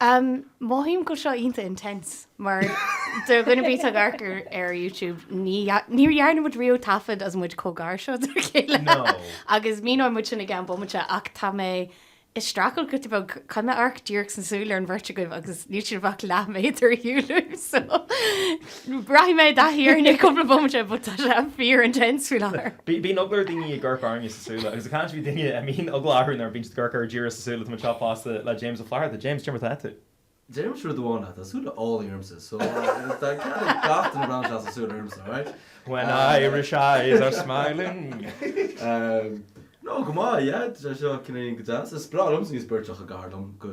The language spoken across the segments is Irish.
Umm, mothaím go bhfuil seo iontach intense mar do dhuine ar bith atá ag amharc ar ar YouTube ní níor dhearna muid riamh taifead is muid chomh gar seo dár chéile No. agus míneoidh muid sin i gceann bomaite ach tá mé ag streachailt giota beag chun amharc díreach sna súile ar an bheirt agaibh agus níl sibh ach leath méadar ar shiúl uaim so Rachaidh mé i dtaithí air in cúpla bomaite but tá sé fíor intense faoi láthair. Bíonn eagla ar dhaoine ag amharc orainne sa súile agus ag caint faoi daoine a mbíonn eagla orthu nuair a bhíonn siad ag amharc air díreach sa súile tá muid anseo fosta le James Ó Flatharta. James, cad é mar atá tú? Déarfainnse rud amháin ná tá súile álainn ormsa so tá cead ag gach duine breathnú sa súile ormsa, alright? When Irish eyes are smiling. No, go maith, yeah, tá sé seo cineáilín go deas. Is breá liomsa sibh beirt chomh gar dom go.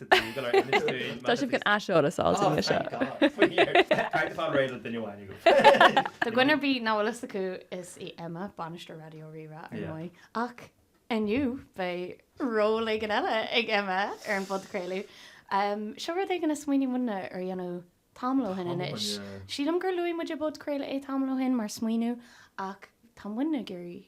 Tá sibh gan aiseolas fháilte inniu seo. Cairt atá réidh le duine amháin agaibh. Do dhuine ar bith nach bhfuil fhios acu, is í Emma bainisteoir Raidió Rí-Rá ar ndóigh, ach inniu beidh ról éigin eile ag Emma ar an bpodchraoladh. Seo rud éigin a smaoinigh muidne ar dhéanamh tamall ó shin anois. Sílim gur luaigh muid i bpodchraoladh é tamall ó shin mar smaoineamh ach tá muidne ag iarraidh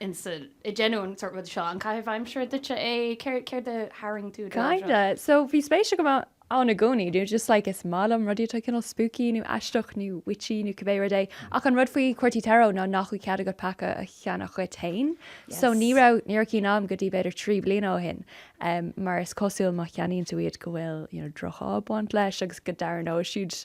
ins an, ag déanamh an sórt ruda seo, an caitheamh aimsire duitse é? Céard, céard a tharraing tú do láimh seo? Kinda, so bhí spéis agam ann i gcónaí, nó just like is maith liom rudaí atá cineál spooky nó aisteach nó witchy nó cibé rud é, ach an rud faoi Chártaí Tarot ná nach bhfuil cead agat paca a cheannach dhuit fhéin, so ní Yes. raibh, ní raibh cinn a'm go dtí b'fhéidir trí bliana ó shin, em, mar is cosúil má cheannaíonn tú iad go bhfuil, you know, droch-ádh ag baint leis agus go dtarraingeoidh siad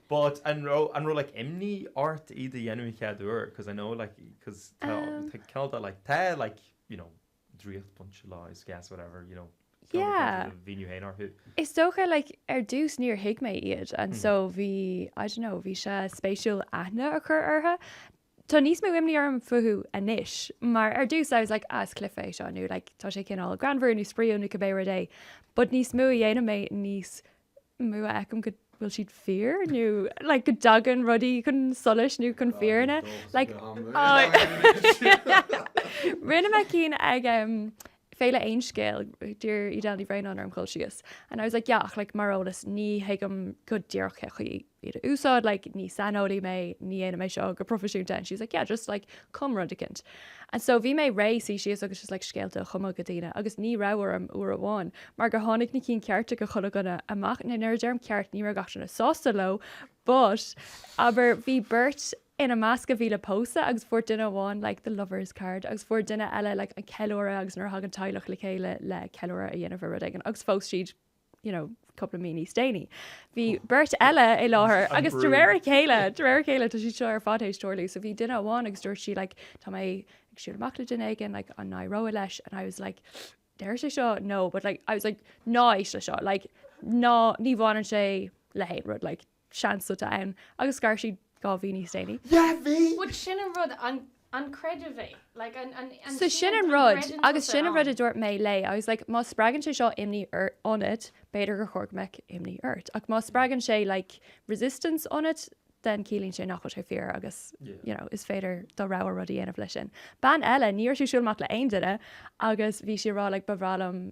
But an raibh, an raibh like imní ort iad a dhéanamh an chéad uair because I know like because tá, Um. tá cineál de like, tá like you know draíocht bainteach leis I guess whatever you know cineál de Yeah. a mhíniú féin orthu. Is dócha like ar dtús níor thuig mé iad and so bhí, I don't know, bhí sé spéisiúil aithne a chur orthu. Tá níos mó imní orm fúthu anois mar ar dtús I was like ah is cluiche é seo nó like tá sé cineál greannmhar nó spraíúil nó cibé rud é but níos mó a dhéanaim é níos mó a fheicim go bhfuil siad fíor nó like go dtagann rudaí chun solais nó chun fírinne like rinne mé cinn ag um, féile Aon Scéal? D'iarr Edel Ní Bhraonáin orm dhul síos and I was like yeah ach like mar eolas ní thuigim go díreach cé chaoi iad a úsáid like ní saineolaí mé, ní dhéanaim é seo go proifisiúnta and she was like yeah just like cum rud eicint and so bhí mé réidh suí síos agus just like scéalta a chumadh do dhaoine agus ní raibh orm uair amháin mar gur tháinig na cinn chearta do chuile dhuine amach, nuair a deirim ceart ní raibh gach duine sásta leo but abair bhí beirt ina measc a bhí le pósadh agus fuair duine amháin like the lovers card agus fuair duine eile like an ceiliúradh agus nuair a thagann teaghlach le chéile le ceiliúradh a dhéanamh ar rud éigin agus phós siad you know cúpla mí níos déanaí. Bhí beirt eile i láthair agus de réir a chéile de réir a chéile tá siad seo ar fad théis tarlú so bhí duine amháin agus dúirt sí like tá mé ag siúl amach le duine éigin like an n-éireoidh leis and I was like deir sé seo no but like I was like ná éist le seo like ná ní bhaineann sé le haon rud like seans atá ann, agus scar siad dhá mhí níos déanaí. Dhá mhí! Bhuel, sin an rud, an, an creideamh é? Like, an, an, an, So sin an rud, gcreideann agus tusa sin an rud a ann? dúirt mé léi, I was like, má spreagann sé seo imní ionat, b'fhéidir gur chóir go mbeadh imní ort, ach má spreagann sé like resistance ionat, then ciallaíonn sé nach bhfuil sé fíor agus Yeah. you know is féidir do rogha rud a dhéanamh leis sin. Bean eile, ní raibh sí ag siúl amach le aon duine agus bhí sí a' rá like ba bhreá liom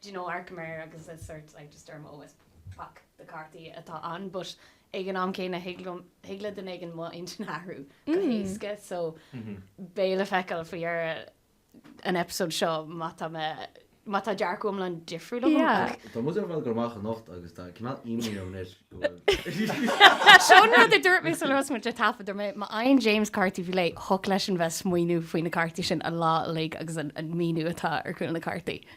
do you know amharcaim air agus is sort like just deirim oh it's pac de cártaí atá ann but ag an am céanna thig le duine éigin mo intinn a athrú go héasca so beidh le feiceáil faoi dheireadh an episode seo má tá mé má tá dearcadh iomlán difriúil agam ach Tá muid uilig ag dul amach anocht agus tá cineál imní orm anois go bhfuil Seo an rud a dúirt mé sular thosaigh muid ag taifead dúirt mé má fhaigheann James cártaí faoi leith thiocfadh leisean bheith ag smaoineamh faoi na cártaí sin an lá uilig agus an an míniú atá ar chúl na cártaí.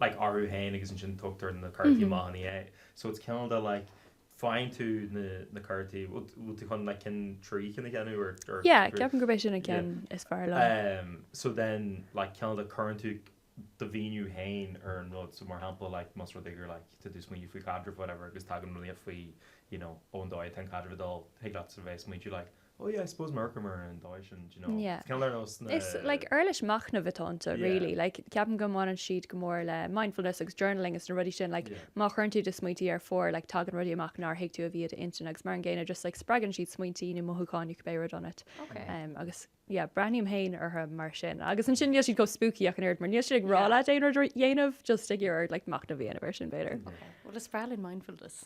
like, orthu féin agus ansin tugtar na cártaí amach ina dhiaidh. So it's kind of like, faigheann tú na, na cártaí, bhfuil tú chun like cinn, trí chinn a cheannach or, or Yeah, three? ceapaim gurb é sin an Yeah. ceann is fearr liom. Ehm, so then like kind of cuireann tú do mhíniú féin ar an rud, so mar shampla like más rud é gur like tá tú ag smaoineamh faoi chaidreamh whatever agus tagann rud faoi you know ó an dóigh atá an caidreamh ag dul, thig leat sort of é a smaointiú like, Oh yeah, I suppose amharcaim air an dóigh sin, do you know, it's kind of nós na. Is like uirlis machnaimh atá iontu really, like ceapaim go mbaineann siad go mór le mindfulness agus journaling agus na rudaí sin, like má chuireann tú do smaointí ar phár, like tagann rudaí amach nár thuig tú a bhí i d'intinn agus mar an gcéanna just like spreagann siad smaointí nó mothúcháin, nó cibé rud ionat. Agus yeah, breathnaím féin orthu mar sin. Agus ansin níl siad chomh spooky ach an oiread mar níl siad ag rá leat aon rud a dhéanamh, just ag iarraidh like machnamh a dhéanamh air sin b'fhéidir. Ok, well is bhreá linn mindfulness.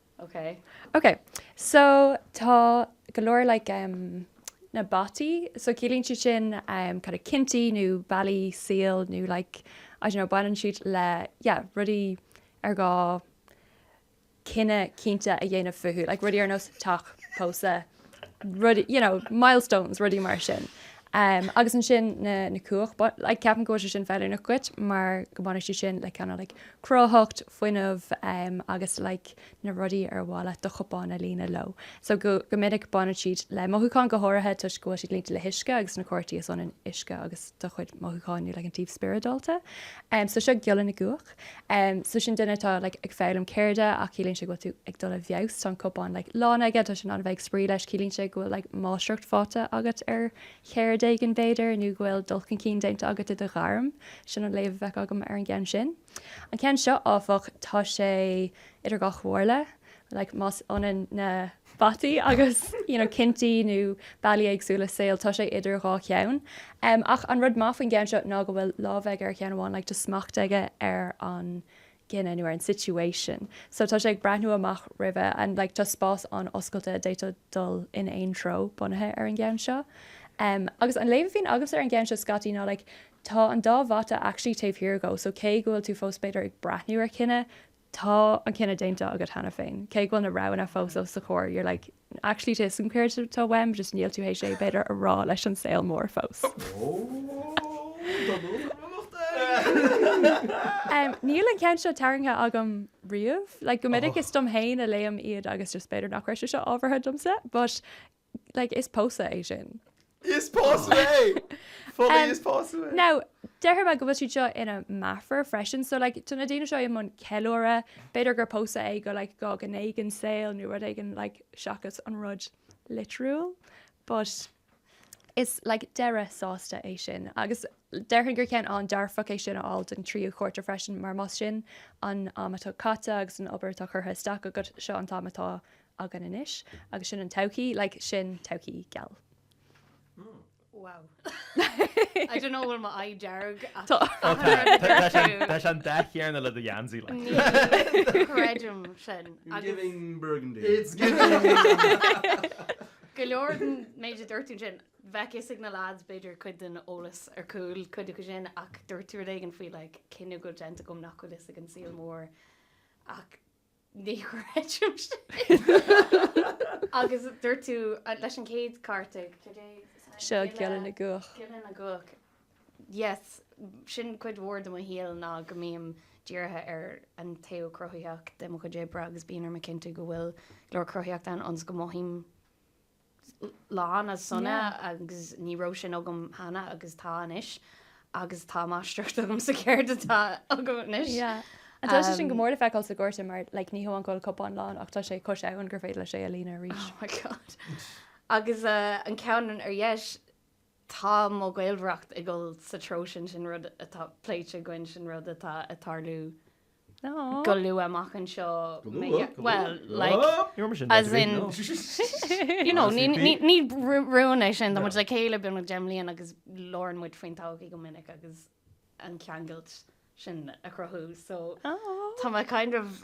ok ok so tá go leor like em na bataí so ciallaíonn siad sin em kind of cinntí nó bealaí saoil nó like I don't know baineann siad le yeah rudaí ar gá cinneadh cinnte a dhéanamh fúthu like rudaí ar nós teach, pósadh. you know, milestones, rudaí mar sin. Agus ansin na cuach, but like ceapaim go bhfuil sé sin feiliúnach dhuit mar go mbaineann siad sin le kind of like cruthaitheacht, fuinneamh agus like na rudaí ar mhaith leat do chupán a líonadh leo. So go minic baineann siad le mothúcháin go háirithe toisc go bhfuil siad líonta le huisce agus sna cártaí is ionann uisce agus do chuid mothúcháin nó like an taobh spioradálta. So seo giolla na gcuach. Em, so sin duine atá like ag foghlaim ceirde ach ciallaíonn sé go bhfuil tú ag dul i bhfeabhas, tá an cupán like lán aige, tá sé in ann a bheith ag spraoi leis, ciallaíonn sé go bhfuil like máistreacht faighte agat ar cheird éigin b'fhéidir nó go bhfuil dul chun cinn déanta agat i do ghairm, sin an léamh a bheadh agam ar an gceann sin. An ceann seo áfach, tá sé idir dhá chomhairle, like más ionann na. bataí agus you know cinntí nó bealaí éagsúla saoil, tá sé idir dhá cheann. Em, ach an rud maith faoin gceann seo ná go bhfuil lámh aige ar cheann amháin like tá smacht aige ar an gcinneadh nó ar an situation so tá sé ag breathnú amach roimhe and like tá spás an-oscailte d'fhéadfá dul in aon treo bunaithe ar an gceann seo. Em, agus an léamh a bhíonn agamsa ar an gceann seo scaití ná like tá an dá bhata actually taobh thiar dhó so cé go bhfuil tú fós b'fhéidir ag breathnú ar chinneadh, tá an cinneadh déanta agat cheana féin, cé go bhfuil na roghanna fós os do chomhair, you're like, actually tá 'fhios agam céard atá uaim, just níl tú théis é, b'fhéidir, a rá leis an saol mór fós. Níl an ceann seo tarraingthe agam riamh, like, go minic is dom fhéin a léim iad agus just b'fhéidir nach raibh sé seo ábhartha domsa, but, like, is pósadh é sin. Is pósadh é! Fully is pósadh é! Now, déarfaidh mé go bhfuil siad seo ina meafair freisin, so like, tá na daoine seo i mbun ceiliúradh, b'fhéidir gur pósadh é go like, dhá ghné den saol nó rud éigin like, seachas an rud litriúil, but is like, deireadh sásta é sin agus déarfainn gur ceann an-dearfach é sin a fháil don tríú chárta freisin mar más sin an am atá caite agus an obair atá curtha isteach agat, seo an t-am atá againn anois agus sin an todhchaí, like, sin todhchaí geal. Wow. I dunno bhfuil mo aghaidh dearg ach Tá. Ó tá, tá, tá tá sé an, tá sé an dath chéarna le do gheansaí like. Ní chreidim sin You're agus giving burgundy. It's giving! go leor den méid a dúirt tú ansin, bheadh 'fhios ag na lads b'fhéidir cuid den eolas ar chúl cuid de sin ach dúirt tú rud éigin faoi like cinneadh go bhfuil déanta agam nach bhfuil 'fhios ag an saol mór ach Ní chreidim sin! Agus dúirt tú leis an chéad cárta, cad é? Seo, Giolla na gCuach. Giolla na gCuach. Yes, sin cuid mhór de mo shaol ná go mbím dírithe ar an taobh cruthaitheach de mo chuid oibre agus bíonn orm a chinntiú go bhfuil go leor cruthaitheacht ann ionas go mothaím lán is sona agus ní raibh sin agam cheana agus tá anois agus tá máistreacht agam sa cheird atá agam anois. And tá sé sin go mór le feiceáil sa gcárta mar like ní hamháin go bhfuil cupán lán ach tá sé cois abhann gur féidir leis é a líonadh arís. Oh my God. Agus an ceann ar dheis Tá mo ghaolmhaireacht ag dul sa treo sin, sin rud atá pléite againn, sin rud atá ag tarlú go luath amach anseo. Go luath? Bhuel, like, as in, you know, ní rún é sin, tá muid le chéile beagnach deich mbliana agus labhrann muid faoin todhchaí go minic agus an cheangailt sin a chruthú, so tá mé kind of,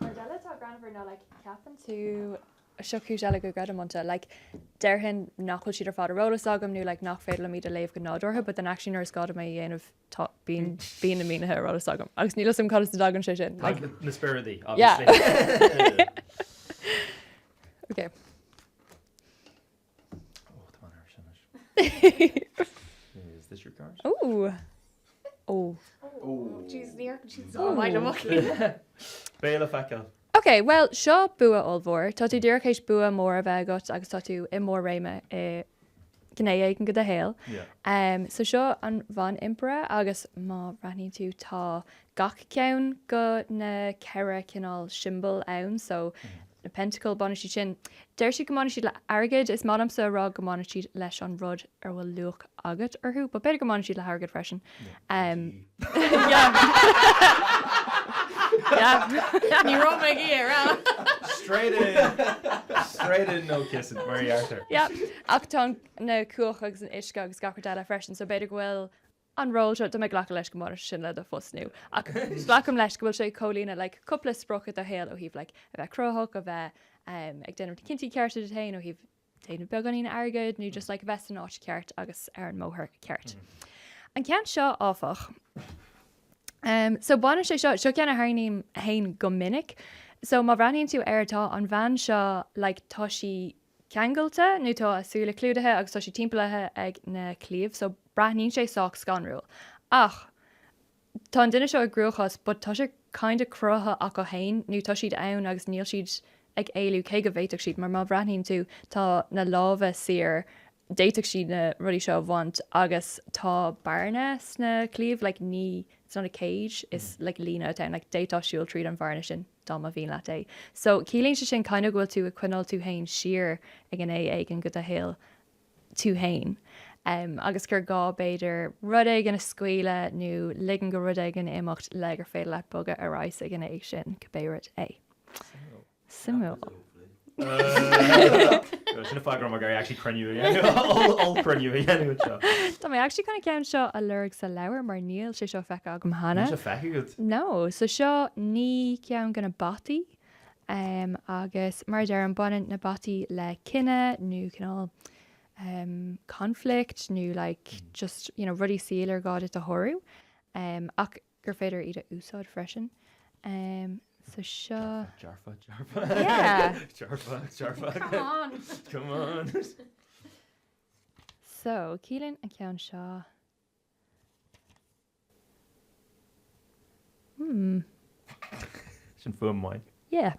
Rud eile atá greannmhar ná like ceapann tú seo cúis eile go gcreidim iontu like déarfainn nach bhfuil siad ar fad ar eolas agam nó like nach féidir liom iad a léamh go nádúrtha but then actually nuair is gá dom é a dhéanamh tá, bíonn, bíonn na mínithe ar eolas agam agus níl 'fhios a'm cad as a dtagann sé sin like. Tagann na spioradaí obviously. Yeah. Okay. Ok, bhuel, seo bua ollmhór. Tá tú díreach théis bua mór a bheith agat agus tá tú i mbarr réime i gné éigin go do shaol. So seo an Bhanimpire agus má bhreathnaíonn tú tá gach ceann go na ceithre chineál siombail ann so na pentacle baineann siad sin deir siad go mbaineann siad le airgead is maith liomsa a rá go mbaineann siad leis an rud ar bhfuil luach agat orthu but b'fhéidir go mbaineann siad le hairgead freisin ehm yeah yeah ní raibh mé ag iarraidh a rá straight in straight in no kissing mar a deirtear yeah ach tá na cuacha agus an t-uisce agus gach rud eile freisin so b'fhéidir go bhfuil an ról seo, tá mé ag glacadh leis go mbaineann sé sin le do phost nua ach glacaim leis go bhfuil sé ag comhlíonadh like cúpla sprioc i do shaol ó thaobh like a bheith cruthaitheach, a bheith ehm ag déanamh na cinntí cearta duit féin ó thaobh déanamh beagáinín airgid nó just like a bheith san áit cheart agus ar an mbóthar ceart. An ceann seo áfach, ehm so baineann sé seo, seo ceann a tharraingím fhéin go minic, so má bhreathnaíonn tú air tá an bhean seo like tá sí, ceangailte nó tá a súile clúdaithe agus tá sí timpeallaithe ag na claíomh so breathnaíonn sé sách scanrúil ach tá an duine seo i gcruachás but tá sé kinda cruthaithe acu fhéin nó tá siad ann agus níl siad ag éalú cé go bhféadfadh siad mar má bhreathnaíonn tú tá na lámha saor d'fhéadfadh siad na rudaí seo a bhaint agus tá bearna sna claíomh like ní it's not a cage is like líne atá ann like d'fhéadfá siúl tríd an bhearna sin dá mba mhian leat é so ciallaíonn sé sin kind of go bhfuil tú ag coinneáil tú féin siar i ngné éigin go do shaol tú féin em agus gur gá b'fhéidir rud éigin a scaoileadh nó ligean go rud éigin imeacht le gur féidir leat bogadh ar aghaidh sa ngné sin cibé rud é so. Suimiúil. Sin an fáth go raibh mé ag iarraidh actually cruinniú a dhéanamh, ollchruinniú a dhéanamh anseo. Tá mé actually chun an ceann seo a lorg sa leabhar mar níl sé seo feicthe agam cheana. Níl sé feicthe agat? No, so seo naoi cheann de na bataí agus mar a deirim baineann na bataí le cinneadh nó cineál conflict nó like just you know rudaí saoil ar gá duit a shárú ach gur féidir iad a úsáid freisin. So seo. Dearfa, dearfa, dearfa, dearfa, dearfa. So ciallaíonn an ceann seo. Hmm. Sin fuaim mhaith. Yeah.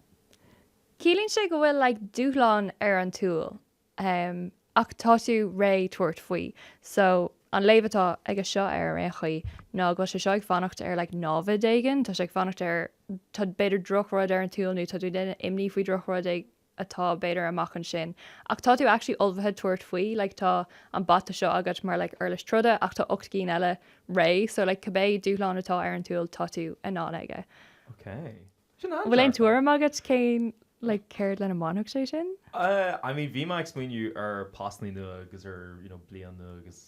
Ciallaíonn sé go bhfuil like dúshlán ar an tsiúl. Ahem. Ach tá tú réidh tabhairt faoi. So, an léamh atá aige seo air, ar aon chaoi, ná go bhfuil sé seo ag fanacht ar like námhaid éigin, tá sé ag fanacht ar, tá b'fhéidir drochrud ar an tsiúl nó tá tú ag déanamh imní faoi drochrud éigin atá b'fhéidir amach ansin. Ach tá tú actually ullmhaithe tabhairt faoi, like tá an bata seo agat mar like uirlis troda ach tá ocht gcinn eile réidh, so like cibé dúshlán atá ar an tsiúl tá tú in ann aige. Okay. Sin an-dearfach. An bhfuil aon tuairim agat cén, like, céard lena mbainfeadh sé sin? I mean bhí mé ag smaoineamh ar postannaí nua agus ar you know bliain nua agus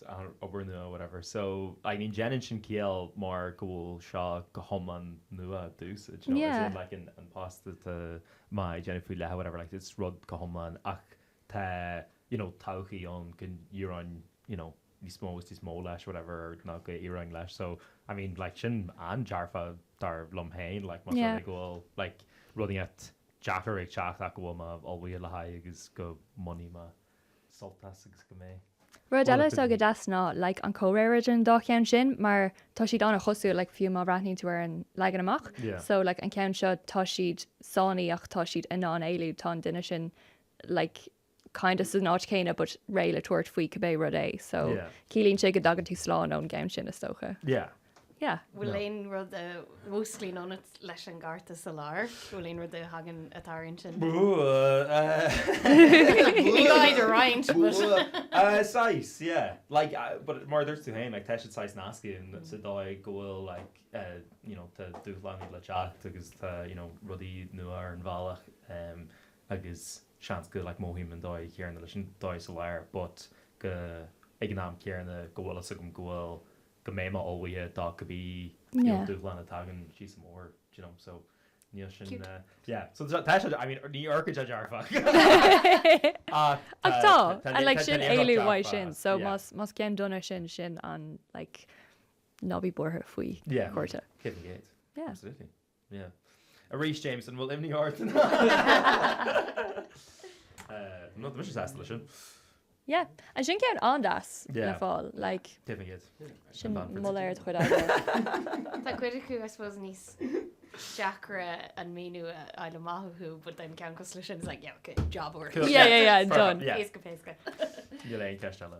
obair nua whatever so I mean déanann sin ciall mar go bhfuil seo go hiomlán nua i dtús you know as in Yeah. like an post atá mé ag déanamh faoi leith whatever like it's rud go hiomlán ach tá you know todhchaí ann go n-iarrfainn you know níos mó is níos mó leis, whatever, nó go n-éireoinn leis. So, I mean, like, sin an-dearfa, dar liom féin, like, más rud é go bhfuil, like, rud éicint deacair ag teacht ach go bhfuil mé ullmhaithe le haghaidh agus go mbainfidh mé sult as agus go mbeidh. Rud eile atá go deas ná, like, an comhréir idir an dá cheann sin mar tá siad an-chosúil, like, fiú má bhreathnaíonn tú ar an leagan amach. Yeah. So, like, an ceann seo, tá siad sáinnithe ach tá siad in ann éalú, tá an duine sin, like, kind of san áit chéanna but réidh le tabhairt faoi cibé rud é so ciallaíonn sé go dtagann tú slán ón gceann sin is dócha. Yeah. Yeah. Bhfuil aon rud a mhúsclaíonn ionat leis an gcárta sa lár? Bhfuil aon rud a thagann atá ar intinn? Bhí roinnt but. Saghas, yeah. Like, but mar a dúirt tú féin, like, tá siad saghas nasctha in sa dóigh go bhfuil like, you know, tá dúshláin le teacht agus tá, you know, rudaí nua ar an bhealach agus, seans go, like, mothaím an dóigh chéanna leis an dó sa lár but go, ag an am céanna, go bhfuil fhios agam go bhfuil, go mbeidh mé ullmhaithe do cibé, you know, dúshlán a thagann síos an bóthar, do you know, so níl sin, Cute. yeah, so tá, tá sé, I mean, ní orcaid sé dearfach ach tá, Ach tá, tá, and like tá, tá siad in ann éalú uaidh sin, so yeah, más, más ceann dona sin, sin an, like, ná bí buartha faoi yeah, cárta. hit an gate, Yeah. absolutely. Yeah. Arís, James, an bhfuil imní ort? No, tá mise sásta leis sin. Yeah. Ansin ceann an-deas le fáil, like. Deimhin iad. Sin mo léir de chuid Adler. Tá cuid acu, I suppose, níos deacra an míniú a fháil amach acu, but then ceann cosúil leis sin, it's like, yeah, okay, job, obair. Yeah, yeah, yeah, done. Éasca péasca. Níl aon cheist eile.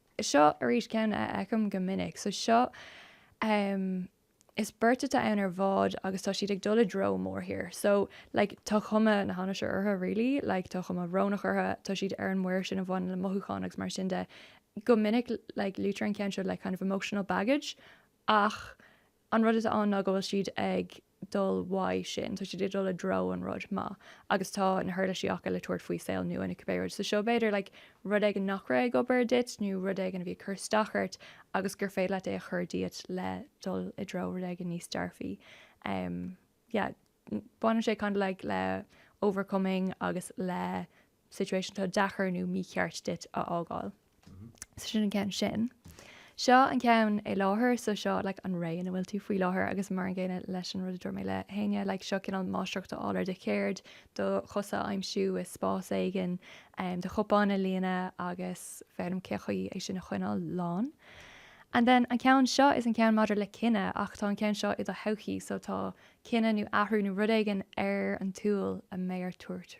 Seo arís ceann a fheicim go minic. So seo, em, is beirt atá ann ar bhád agus tá siad ag dul i dtreo mórthír. So, like, tá cuma na hainnise orthu, really, like, tá cuma bhrónach orthu, tá siad ar an muir sin a bhaineann le mothúcháin agus mar sin de. Go minic, like, luaitear an ceann seo le kind of emotional baggage ach, An rud atá ann ná go bhfuil siad ag dul uaidh sin, tá siad ag dul i dtreo an rud maith agus tá na huirlisí acu le tabhairt faoi saol nua nó cibé rud. So seo b'fhéidir like rud éigin nach raibh ag obair duit nó rud éigin a bhí ag cur isteach ort agus gur féidir leat é a chur díot le dul i dtreo rud éigin níos dearfaí. Em yeah baineann sé kinda like le overcoming agus le situation atá deacair nó mícheart duit a fhágáil. So sin an ceann sin. Seo an ceann i láthair, so seo like an ré ina bhfuil tú faoi láthair agus mar an gcéanna leis an rud a dúirt mé le hÁine, like seo cineál máistreacht a fháil ar do cheird, do chosa a aimsiú i spás éigin, do chupán a líonadh agus foghlaim cén chaoi é sin a choinneáil lán. And then an ceann seo is an ceann maidir le cinneadh ach tá an ceann seo i do thodhchaí, so tá cinneadh nó athrú nó rud éigin ar an tsúil a mbeidh ort tabhairt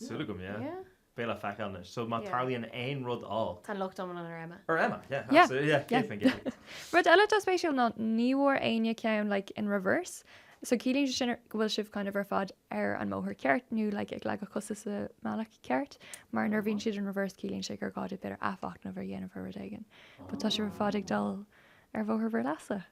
Súil agam, yeah. Yeah. Beidh le feiceáil anois. So má tarlaíonn aon rud all. Tá an locht iomlán ar Emma. Ar Emma, yeah, Yeah. absolutely, yeah, Yeah. céad faoin gcéad. Rud eile atá spéisiúil ná ní bhfuair éinne ceann like in reverse. So ciallaíonn sé sin go bhfuil sibh kind of ar fad ar an mbóthar ceart nó like ag leagadh cosa sa mbealach ceart mar nuair a bhíonn siad in reverse ciallaíonn sé gur gá duit b'fhéidir athmhachnamh a dhéanamh ar rud éigin. But tá sibh ar fad ag dul ar bhóthar bhur leasa.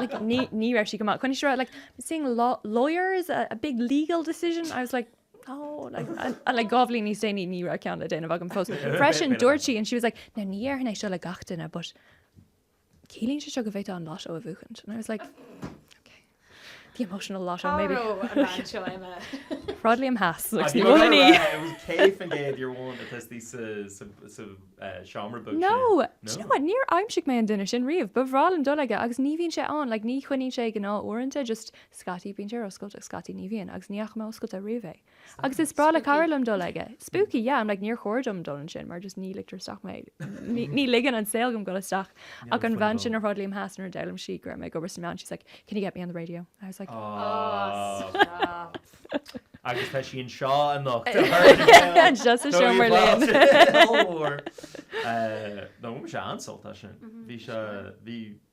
like ní ní raibh sí go maith choinnigh sí like seeing law lawyers a, a big legal decision I was like oh like and, and like dhá bhliain níos déanaí ní raibh ceann le déanamh agam fós freisin dúirt sí and she was like now ní dhéarfainn é seo le gach duine but ciallaíonn sé seo go bhféadfá an lotto a bhuachaint and I was like The emotional lotto Cá maybe. raibh an bhean seo Emma? Sráid Liam Theas Ach ní bhfuil ní. It was céad faoin gcéad your one atá istigh sa seomra beag sin. No! Do you know what, níor aimsigh mé an duine sin riamh. Ba bhreá liom dul aige agus ní bhíonn sé ann, like ní choinníonn sé gnáth uaireanta, just scaití bíonn sé ar oscailt agus scaití ní bhíonn, agus ní fhaca mé oscailte riamh é. Agus is breá le cara liom dul aige. Spooky, yeah, I'm like níor chóir dom dul ansin mar just ní ligtear isteach mé, ní ligeann an saol dom dul isteach. Ach an bhean sin ar Shráid Liam Theas nuair a d'fhoghlaim sí go raibh mé ag obair sna meáin, she's like, can you get me on the radio? I was like, Stop! Agus tá sí anseo anocht to her credit! Just sa seomra linn! Go mór! Bhain mise an-sult as sin. Bhí sé, bhí.